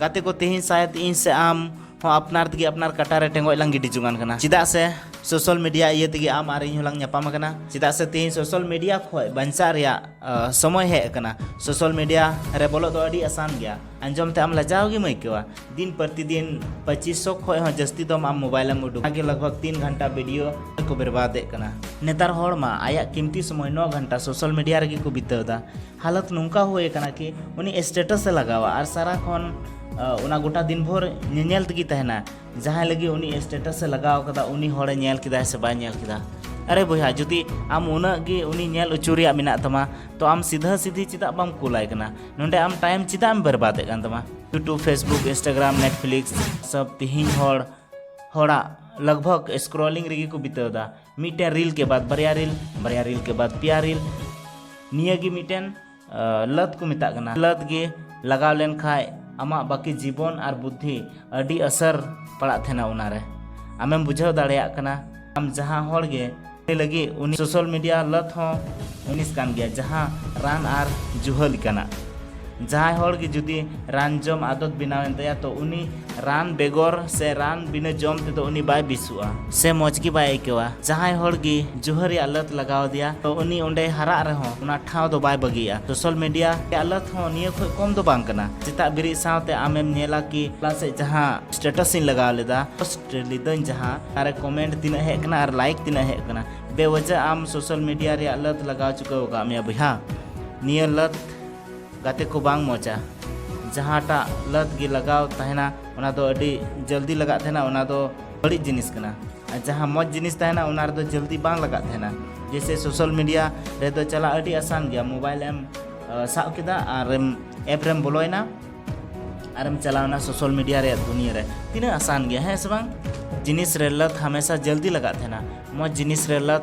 ᱜᱟᱛᱮ ᱠᱚ ᱛᱮᱦᱮᱧ ᱥᱟᱭᱮᱫ ᱤᱧ ᱥᱮ ᱟᱢ ᱦᱚᱸ ᱟᱯᱱᱟᱨ ᱛᱮᱜᱮ ᱟᱯᱱᱟᱨ ᱠᱟᱴᱟ ᱨᱮ ᱴᱮᱸᱜᱚᱡ ᱞᱟᱝ ᱜᱤᱰᱤ ᱡᱚᱝᱟᱱ ᱠᱟᱱᱟ ᱪᱮᱫᱟᱜ ᱥᱮ ᱥᱳᱥᱟᱞ ᱢᱤᱰᱤᱭᱟ ᱤᱭᱟᱹ ᱛᱮᱜᱮ ᱟᱢ ᱟᱨ ᱤᱧ ᱦᱚᱸᱞᱟᱝ ᱧᱟᱯᱟᱢ ᱟᱠᱟᱱᱟ ᱪᱮᱫᱟᱜ ᱥᱮ ᱛᱮᱦᱮᱧ ᱥᱳᱥᱟᱞ ᱢᱤᱰᱤᱭᱟ ᱠᱷᱚᱡ ᱵᱟᱧᱪᱟᱜ ᱨᱮᱭᱟᱜ ᱥᱚᱢᱚᱭ ᱦᱮᱡ ᱟᱠᱟᱱᱟ ᱥᱳᱥᱟᱞ ᱢᱤᱰᱤᱭᱟ ᱨᱮ ᱵᱚᱞᱚᱜ ᱫᱚ ᱟᱹᱰᱤ ᱟᱥᱟᱱ ᱜᱮᱭᱟ ᱟᱸᱡᱚᱢ ᱛᱮ ᱟᱢ ᱞᱟᱡᱟᱣ ᱜᱮᱢ ᱟᱹᱭᱠᱟᱹᱣᱟ ᱫᱤᱱ ᱯᱨᱚᱛᱤᱫᱤᱱ ᱯᱚᱸᱪᱤᱥ ᱥᱚ ᱠᱷᱚᱡ ᱦᱚᱸ ᱡᱟᱹᱥᱛᱤ ᱫᱚᱢ ᱟᱢ ᱢᱳᱵᱟᱭᱤᱞ ᱮᱢ ᱩᱰᱩᱠ ᱟᱜᱮ ᱞᱟᱜᱽᱵᱷᱟᱜᱽ ᱛᱤᱱ ᱜᱷᱟᱱᱴᱟ ᱵᱷᱤᱰᱤᱭᱳ ᱠᱚ ᱵᱮᱨᱵᱟᱫᱮᱫ ᱠᱟᱱᱟ ᱱᱮᱛᱟᱨ ᱦᱚᱲ ᱢᱟ ᱟᱭᱟᱜ ᱠᱤᱢᱛᱤ ᱥᱚᱢᱚᱭ ᱱᱚ ᱜᱷᱟᱱᱴᱟ ᱥᱳᱥᱟᱞ ᱢᱤᱰᱤᱭᱟ ᱨᱮᱜᱮ ᱠᱚ ᱵᱤᱛᱟᱹᱣ ᱮᱫᱟ ᱦᱟᱞᱚᱛ ᱱᱚᱝᱠᱟ ᱦᱩᱭ ᱟᱠᱟᱱᱟ ᱠᱤ ᱩᱱᱤ ᱥᱴᱮᱴᱟᱥ ᱮ ᱞᱟᱜᱟᱣᱟ ᱟᱨ ᱥᱟᱨᱟ ᱠᱷᱚᱱ ᱚᱱᱟ ᱜᱚᱴᱟ ᱫᱤᱱ ᱵᱷᱳᱨ ᱧᱮᱧᱮᱞ ᱛᱮᱜᱮ ᱛᱟᱦᱮᱱᱟ ᱡᱟᱦᱟᱸᱭ ᱞᱟᱹᱜᱤᱫ ᱩᱱᱤ ᱥᱴᱮᱴᱟᱥ ᱮ ᱞᱟᱜᱟᱣ ᱠᱟᱫᱟ ᱩᱱᱤ ᱦᱚᱲᱮ ᱧᱮᱞ ᱠᱮᱫᱟ ᱥᱮ ᱵᱟᱭ ᱧᱮᱞ ᱠᱮᱫᱟ ᱟᱨᱮ ᱵᱚᱭᱦᱟ ᱡᱩᱫᱤ ᱟᱢ ᱩᱱᱟᱹᱜ ᱜᱮ ᱩᱱᱤ ᱧᱮᱞ ᱚᱪᱚ ᱨᱮᱭᱟᱜ ᱢᱮᱱᱟᱜ ᱛᱟᱢᱟ ᱛᱚ ᱟᱢ ᱥᱤᱫᱷᱟᱹ ᱥᱤᱫᱷᱤ ᱪᱮᱫᱟᱜ ᱵᱟᱢ ᱠᱩᱞᱟᱭ ᱠᱟᱱᱟ ᱱᱚᱰᱮ ᱟᱢ ᱴᱟᱭᱤᱢ ᱪᱮᱫᱟᱜ ᱮᱢ ᱵᱮᱨᱵᱟᱫᱮᱫ ᱠᱟᱱ ᱛᱟᱢᱟ ᱭᱩᱴᱩᱵᱽ ᱯᱷᱮᱥᱵᱩᱠ ᱤᱱᱥᱴᱟᱜᱨᱟᱢ ᱱᱮᱴᱯᱷᱞᱤᱠᱥ ᱥᱚᱵ ᱛᱮᱦᱮᱧ ᱦᱚᱲ ᱦᱚᱲᱟᱜ ᱞᱟᱜᱽᱵᱷᱟᱜᱽ ᱥᱠᱨᱚᱞᱤᱝ ᱨᱮᱜᱮ ᱠᱚ ᱵᱤᱛᱟᱹᱣ ᱮᱫᱟ ᱢᱤᱫᱴᱮᱱ ᱨᱤᱞ ᱠᱮ ᱵᱟᱫ ᱵᱟᱨᱭᱟ ᱨᱤᱞ ᱵᱟᱨᱭᱟ ᱨᱤᱞ ᱠᱮ ᱵᱟᱫ ᱯᱮᱭᱟ ᱨᱤᱞ ᱱᱤᱭᱟᱹ ᱜᱮ ᱢᱤᱫᱴᱮᱱ ᱞᱟᱹᱛ ᱠᱚ ᱢᱮᱛᱟᱜ ᱠᱟᱱᱟ ᱞᱟᱹᱛ ᱜᱮ ᱞᱟᱜᱟᱣ ᱞᱮᱱ ᱠᱷᱟᱡ ᱟᱢᱟᱜ ᱵᱟᱹᱠᱤ ᱡᱤᱵᱚᱱ ᱟᱨ ᱵᱩᱫᱽᱫᱷᱤ ᱟᱹᱰᱤ ᱟᱥᱟᱨ ᱯᱟᱲᱟᱜ ᱛᱟᱦᱮᱱᱟ ᱚᱱᱟᱨᱮ ᱟᱢᱮᱢ ᱵᱩᱡᱷᱟᱹᱣ ᱫᱟᱲᱮᱭᱟᱜ ᱠᱟᱱᱟ ᱟᱢ ᱡᱟᱦᱟᱸ ᱦᱚᱲ ᱜᱮ ᱞᱟᱹᱜᱤᱫ ᱩᱱᱤ ᱥᱳᱥᱟᱞ ᱢᱤᱰᱤᱭᱟ ᱞᱟᱹᱛ ᱦᱚᱸ ᱡᱤᱱᱤᱥ ᱠᱟᱱ ᱜᱮᱭᱟ ᱡᱟᱦᱟᱸ ᱨᱟᱱ ᱟᱨ ᱡᱩᱦᱟᱹ ᱞᱮᱠᱟᱱᱟᱜ ᱡᱟᱦᱟᱸᱭ ᱦᱚᱲ ᱜᱮ ᱡᱩᱫᱤ ᱨᱟᱱ ᱡᱚᱢ ᱟᱫᱚᱛ ᱵᱮᱱᱟᱣ ᱮᱱ ᱛᱟᱭᱟ ᱛᱚ ᱩᱱᱤ ᱨᱟᱱ ᱵᱮᱜᱚᱨ ᱥᱮ ᱨᱟᱱ ᱵᱤᱱᱟᱹ ᱡᱚᱢ ᱛᱮᱫᱚ ᱩᱱᱤ ᱵᱟᱭ ᱵᱮᱥᱚᱜᱼᱟ ᱥᱮ ᱢᱚᱡᱽ ᱜᱮ ᱵᱟᱭ ᱟᱹᱭᱠᱟᱹᱣᱟ ᱡᱟᱦᱟᱸᱭ ᱦᱚᱲ ᱜᱮ ᱡᱩᱦᱟᱹ ᱨᱮᱭᱟᱜ ᱞᱟᱹᱛ ᱞᱟᱜᱟᱣ ᱟᱫᱮᱭᱟ ᱛᱚ ᱩᱱᱤ ᱚᱸᱰᱮ ᱦᱟᱨᱟᱜ ᱨᱮᱦᱚᱸ ᱚᱱᱟ ᱴᱷᱟᱶ ᱫᱚ ᱵᱟᱭ ᱵᱟᱹᱜᱤᱭᱟ ᱥᱳᱥᱟᱞ ᱢᱤᱰᱤᱭᱟ ᱨᱮᱭᱟᱜ ᱞᱟᱹᱛ ᱦᱚᱸ ᱱᱤᱭᱟᱹ ᱠᱷᱚᱱ ᱠᱚᱢ ᱫᱚ ᱵᱟᱝ ᱠᱟᱱᱟ ᱥᱮᱛᱟᱜ ᱵᱮᱨᱮᱫ ᱥᱟᱶᱛᱮ ᱟᱢᱮᱢ ᱧᱮᱞᱟ ᱠᱤ ᱦᱚᱞᱟ ᱥᱮᱫ ᱡᱟᱦᱟᱸ ᱥᱴᱮᱴᱟᱥ ᱤᱧ ᱞᱟᱜᱟᱣ ᱞᱮᱫᱟ ᱯᱳᱥᱴ ᱞᱤᱫᱟᱹᱧ ᱡᱟᱦᱟᱸ ᱟᱨ ᱠᱚᱢᱮᱱᱴ ᱛᱤᱱᱟᱹᱜ ᱦᱮᱡ ᱠᱟᱱᱟ ᱟᱨ ᱞᱟᱭᱤᱠ ᱛᱤᱱᱟᱹᱜ ᱦᱮᱡ ᱠᱟᱱᱟ ᱵᱮᱣᱟᱡᱟ ᱟᱢ ᱥᱳᱥᱟᱞ ᱢᱤᱰᱤᱭᱟ ᱨᱮᱭᱟᱜ ᱞᱟᱹᱛ ᱞᱟᱜᱟᱣ ᱪᱩᱠᱟᱹᱣ ᱟᱠᱟᱫ ᱢᱮᱭᱟ ᱵᱚᱭᱦᱟ ᱱᱤᱭᱟᱹ ᱞᱟᱹᱛ ᱜᱟᱛᱮ ᱠᱚ ᱵᱟᱝ ᱢᱚᱡᱟ ᱡᱟᱦᱟᱸᱴᱟᱜ ᱞᱟᱛ ᱜᱮ ᱞᱟᱜᱟᱣ ᱛᱟᱦᱮᱱᱟ ᱚᱱᱟ ᱫᱚ ᱟᱹᱰᱤ ᱡᱚᱞᱫᱤ ᱞᱟᱜᱟᱜ ᱛᱟᱦᱮᱱᱟ ᱚᱱᱟ ᱫᱚ ᱵᱟᱹᱲᱤᱡ ᱡᱤᱱᱤᱥ ᱠᱟᱱᱟ ᱟᱨ ᱡᱟᱦᱟᱸ ᱢᱚᱡᱽ ᱡᱤᱱᱤᱥ ᱛᱟᱦᱮᱱᱟ ᱚᱱᱟ ᱨᱮᱫᱚ ᱡᱚᱞᱫᱤ ᱵᱟᱝ ᱞᱟᱜᱟᱜ ᱛᱟᱦᱮᱱᱟ ᱡᱮᱭᱥᱮ ᱥᱳᱥᱟᱞ ᱢᱤᱰᱤᱭᱟ ᱨᱮᱫᱚ ᱪᱟᱞᱟᱜ ᱟᱹᱰᱤ ᱟᱥᱟᱱ ᱜᱮᱭᱟ ᱢᱳᱵᱟᱭᱤᱞ ᱮᱢ ᱥᱟᱵ ᱠᱮᱫᱟ ᱟᱨᱮᱢ ᱮᱯ ᱨᱮᱢ ᱵᱚᱞᱚᱭᱮᱱᱟ ᱟᱨᱮᱢ ᱪᱟᱞᱟᱣᱱᱟ ᱥᱳᱥᱟᱞ ᱢᱤᱰᱤᱭᱟ ᱨᱮᱭᱟᱜ ᱫᱩᱱᱤᱭᱟᱹ ᱨᱮ ᱛᱤᱱᱟᱹᱜ ᱟᱥᱟᱱ ᱜᱮᱭᱟ ᱦᱮᱸ ᱥᱮ ᱵᱟᱝ ᱡᱤᱱᱤᱥ ᱨᱮ ᱞᱟᱛ ᱦᱟᱢᱮᱥᱟ ᱡᱚᱞᱫᱤ ᱞᱟᱜᱟᱜ ᱛᱟᱦᱮᱱᱟ ᱢᱚᱡᱽ ᱡᱤᱱᱤᱥ ᱨᱮ ᱞᱟᱛ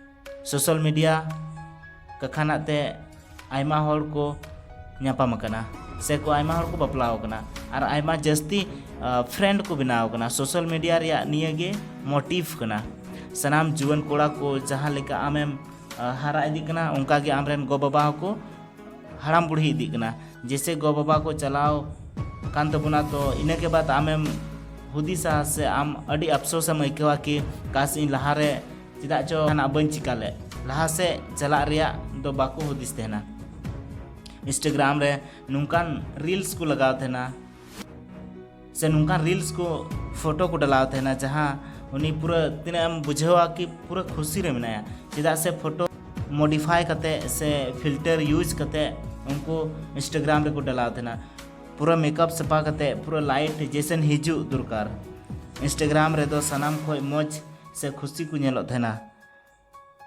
ᱥᱳᱥᱟᱞ ᱢᱤᱰᱤᱭᱟ ᱠᱟᱠᱷᱟᱱᱟᱜ ᱛᱮ ᱟᱭᱢᱟ ᱦᱚᱲ ᱠᱚ ᱧᱟᱯᱟᱢ ᱟᱠᱟᱱᱟ ᱥᱮ ᱠᱚ ᱟᱭᱢᱟ ᱦᱚᱲ ᱠᱚ ᱵᱟᱯᱞᱟ ᱟᱠᱟᱱᱟ ᱟᱨ ᱟᱭᱢᱟ ᱡᱟᱹᱥᱛᱤ ᱯᱷᱨᱮᱱᱰ ᱠᱚ ᱵᱮᱱᱟᱣ ᱟᱠᱟᱱᱟ ᱥᱳᱥᱟᱞ ᱢᱤᱰᱤᱭᱟ ᱨᱮᱭᱟᱜ ᱱᱤᱭᱟᱹ ᱜᱮ ᱢᱳᱴᱤᱵᱷ ᱠᱟᱱᱟ ᱥᱟᱱᱟᱢ ᱡᱩᱣᱟᱹᱱ ᱠᱚᱲᱟ ᱠᱚ ᱡᱟᱦᱟᱸ ᱞᱮᱠᱟ ᱟᱢᱮᱢ ᱦᱟᱨᱟ ᱤᱫᱤᱜ ᱠᱟᱱᱟ ᱚᱱᱠᱟ ᱜᱮ ᱟᱢᱨᱮᱱ ᱜᱚ ᱵᱟᱵᱟ ᱦᱚᱸᱠᱚ ᱦᱟᱲᱟᱢ ᱵᱩᱲᱦᱤ ᱤᱫᱤᱜ ᱠᱟᱱᱟ ᱡᱮᱥᱮ ᱜᱚ ᱵᱟᱵᱟ ᱠᱚ ᱪᱟᱞᱟᱣ ᱠᱟᱱ ᱛᱟᱵᱚᱱᱟ ᱛᱚ ᱤᱱᱟᱹ ᱠᱮ ᱵᱟᱫ ᱟᱢᱮᱢ ᱦᱩᱫᱤᱥᱟ ᱥᱮ ᱟᱢ ᱟᱹᱰᱤ ᱟᱯᱥᱳᱥ ᱮᱢ ᱟᱹᱭᱠᱟᱹᱣᱟ ᱠᱤ ᱠᱟᱥ ᱤᱧ ᱞᱟᱦᱟᱨᱮ ᱪᱮᱫᱟᱜ ᱪᱚ ᱡᱟᱦᱟᱱᱟᱜ ᱵᱟᱹᱧ ᱪᱤᱠᱟ ᱞᱮᱫ ᱞᱟᱦᱟ ᱥᱮᱫ ᱪᱟᱞᱟᱜ ᱨᱮᱭᱟᱜ ᱫᱚ ᱵᱟᱠᱚ ᱦᱩᱫᱤᱥ ᱛᱟᱦᱮᱱᱟ ᱤᱱᱥᱴᱟᱜᱨᱟᱢ ᱨᱮ ᱱᱚᱝᱠᱟᱱ ᱨᱤᱞᱥ ᱠᱚ ᱞᱟᱜᱟᱣ ᱛᱟᱦᱮᱱᱟ ᱥᱮ ᱱᱚᱝᱠᱟᱱ ᱨᱤᱞᱥ ᱠᱚ ᱯᱷᱳᱴᱳ ᱠᱚ ᱰᱟᱞᱟᱣ ᱛᱟᱦᱮᱱᱟ ᱡᱟᱦᱟᱸ ᱩᱱᱤ ᱯᱩᱨᱟᱹ ᱛᱤᱱᱟᱹᱜ ᱮᱢ ᱵᱩᱡᱷᱟᱹᱣᱟ ᱠᱤ ᱯᱩᱨᱟᱹ ᱠᱷᱩᱥᱤ ᱨᱮ ᱢᱮᱱᱟᱭᱟ ᱪᱮᱫᱟᱜ ᱥᱮ ᱯᱷᱳᱴᱳ ᱢᱚᱰᱤᱯᱷᱟᱭ ᱠᱟᱛᱮ ᱥᱮ ᱯᱷᱤᱞᱴᱟᱨ ᱤᱭᱩᱡᱽ ᱠᱟᱛᱮ ᱩᱱᱠᱩ ᱤᱱᱥᱴᱟᱜᱨᱟᱢ ᱨᱮᱠᱚ ᱰᱟᱞᱟᱣ ᱛᱟᱦᱮᱱᱟ ᱯᱩᱨᱟᱹ ᱢᱮᱠᱟᱯ ᱥᱟᱯᱟ ᱠᱟᱛᱮ ᱯᱩᱨᱟᱹ ᱞᱟᱭᱤᱴ ᱡᱮᱥᱮᱱ ᱦᱤᱡᱩᱜ ᱫᱚᱨᱠᱟᱨ ᱤᱱᱥᱴᱟᱜᱨᱟᱢ ᱨᱮᱫᱚ ᱥᱟᱱᱟᱢ ᱠᱷᱚᱡ ᱢᱚᱡᱽ ᱥᱮ ᱠᱷᱩᱥᱤ ᱠᱚ ᱧᱮᱞᱚᱜ ᱛᱟᱦᱮᱱᱟ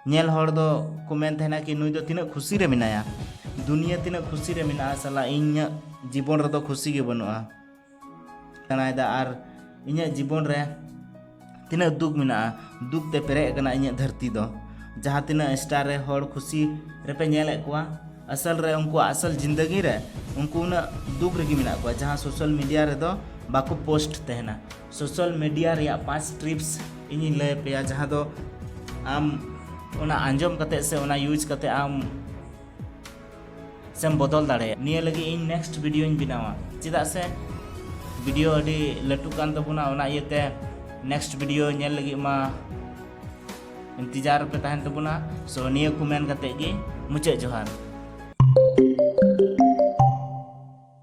ᱧᱮᱞ ᱦᱚᱲ ᱫᱚ ᱠᱚ ᱢᱮᱱ ᱛᱟᱦᱮᱱᱟ ᱠᱤ ᱱᱩᱭ ᱫᱚ ᱛᱤᱱᱟᱹᱜ ᱠᱷᱩᱥᱤ ᱨᱮ ᱢᱮᱱᱟᱭᱟ ᱫᱩᱱᱤᱭᱟᱹ ᱛᱤᱱᱟᱹᱜ ᱠᱷᱩᱥᱤ ᱨᱮ ᱢᱮᱱᱟᱜᱼᱟ ᱥᱟᱞᱟ ᱤᱧᱟᱹᱜ ᱡᱤᱵᱚᱱ ᱨᱮᱫᱚ ᱠᱷᱩᱥᱤ ᱜᱮ ᱵᱟᱹᱱᱩᱜᱼᱟ ᱠᱟᱱᱟᱭᱫᱟ ᱟᱨ ᱤᱧᱟᱹᱜ ᱡᱤᱵᱚᱱ ᱨᱮ ᱛᱤᱱᱟᱹᱜ ᱫᱩᱠ ᱢᱮᱱᱟᱜᱼᱟ ᱫᱩᱠ ᱛᱮ ᱯᱮᱨᱮᱡ ᱟᱠᱟᱱᱟ ᱤᱧᱟᱹᱜ ᱫᱷᱟᱹᱨᱛᱤ ᱫᱚ ᱡᱟᱦᱟᱸ ᱛᱤᱱᱟᱹᱜ ᱥᱴᱟᱨ ᱨᱮ ᱦᱚᱲ ᱠᱷᱩᱥᱤ ᱨᱮᱯᱮ ᱧᱮᱞᱮᱫ ᱠᱚᱣᱟ ᱟᱥᱚᱞ ᱨᱮ ᱩᱱᱠᱩᱣᱟᱜ ᱟᱥᱚᱞ ᱡᱤᱱᱫᱟᱹᱜᱤ ᱨᱮ ᱩᱱᱠᱩ ᱩᱱᱟᱹᱜ ᱫᱩᱠ ᱨᱮᱜᱮ ᱢᱮᱱᱟᱜ ᱠᱚᱣᱟ ᱡᱟᱦᱟᱸ ᱥᱳᱥᱟᱞ ᱢᱤᱰᱤᱭᱟ ᱨᱮᱫᱚ ᱵᱟᱠᱚ ᱯᱳᱥᱴ ᱛᱟᱦᱮᱱᱟ ᱥᱳᱥᱟᱞ ᱢᱤᱰᱤᱭᱟ ᱨᱮᱭᱟᱜ ᱯᱟᱸᱪ ᱴᱨᱤᱯᱥ ᱤᱧᱤᱧ ᱞᱟᱹᱭ ᱯᱮᱭᱟ ᱡᱟᱦᱟᱸ ᱫᱚ ᱟᱢ ᱚᱱᱟ ᱟᱸᱡᱚᱢ ᱠᱟᱛᱮ ᱥᱮ ᱚᱱᱟ ᱭᱩᱡᱽ ᱠᱟᱛᱮ ᱟᱢ ᱥᱮᱢ ᱵᱚᱫᱚᱞ ᱫᱟᱲᱮᱭᱟᱜᱼᱟ ᱱᱤᱭᱟᱹ ᱞᱟᱹᱜᱤᱫ ᱤᱧ ᱱᱮᱠᱥᱴ ᱵᱷᱤᱰᱤᱭᱳᱧ ᱵᱮᱱᱟᱣᱟ ᱪᱮᱫᱟᱜ ᱥᱮ ᱵᱷᱤᱰᱤᱭᱳ ᱟᱹᱰᱤ ᱞᱟᱹᱴᱩ ᱠᱟᱱ ᱛᱟᱵᱚᱱᱟ ᱚᱱᱟ ᱤᱭᱟᱹᱛᱮ ᱱᱮᱠᱥᱴ ᱵᱷᱤᱰᱤᱭᱳ ᱧᱮᱞ ᱞᱟᱹᱜᱤᱫ ᱢᱟ ᱤᱱᱛᱤᱡᱟᱨ ᱯᱮ ᱛᱟᱦᱮᱱ ᱛᱟᱵᱚᱱᱟ ᱥᱚ ᱱᱤᱭᱟᱹ ᱠᱚ ᱢᱮᱱ ᱠᱟᱛᱮ ᱜᱮ ᱢᱩᱪᱟᱹᱫ ᱡᱚᱦᱟᱨ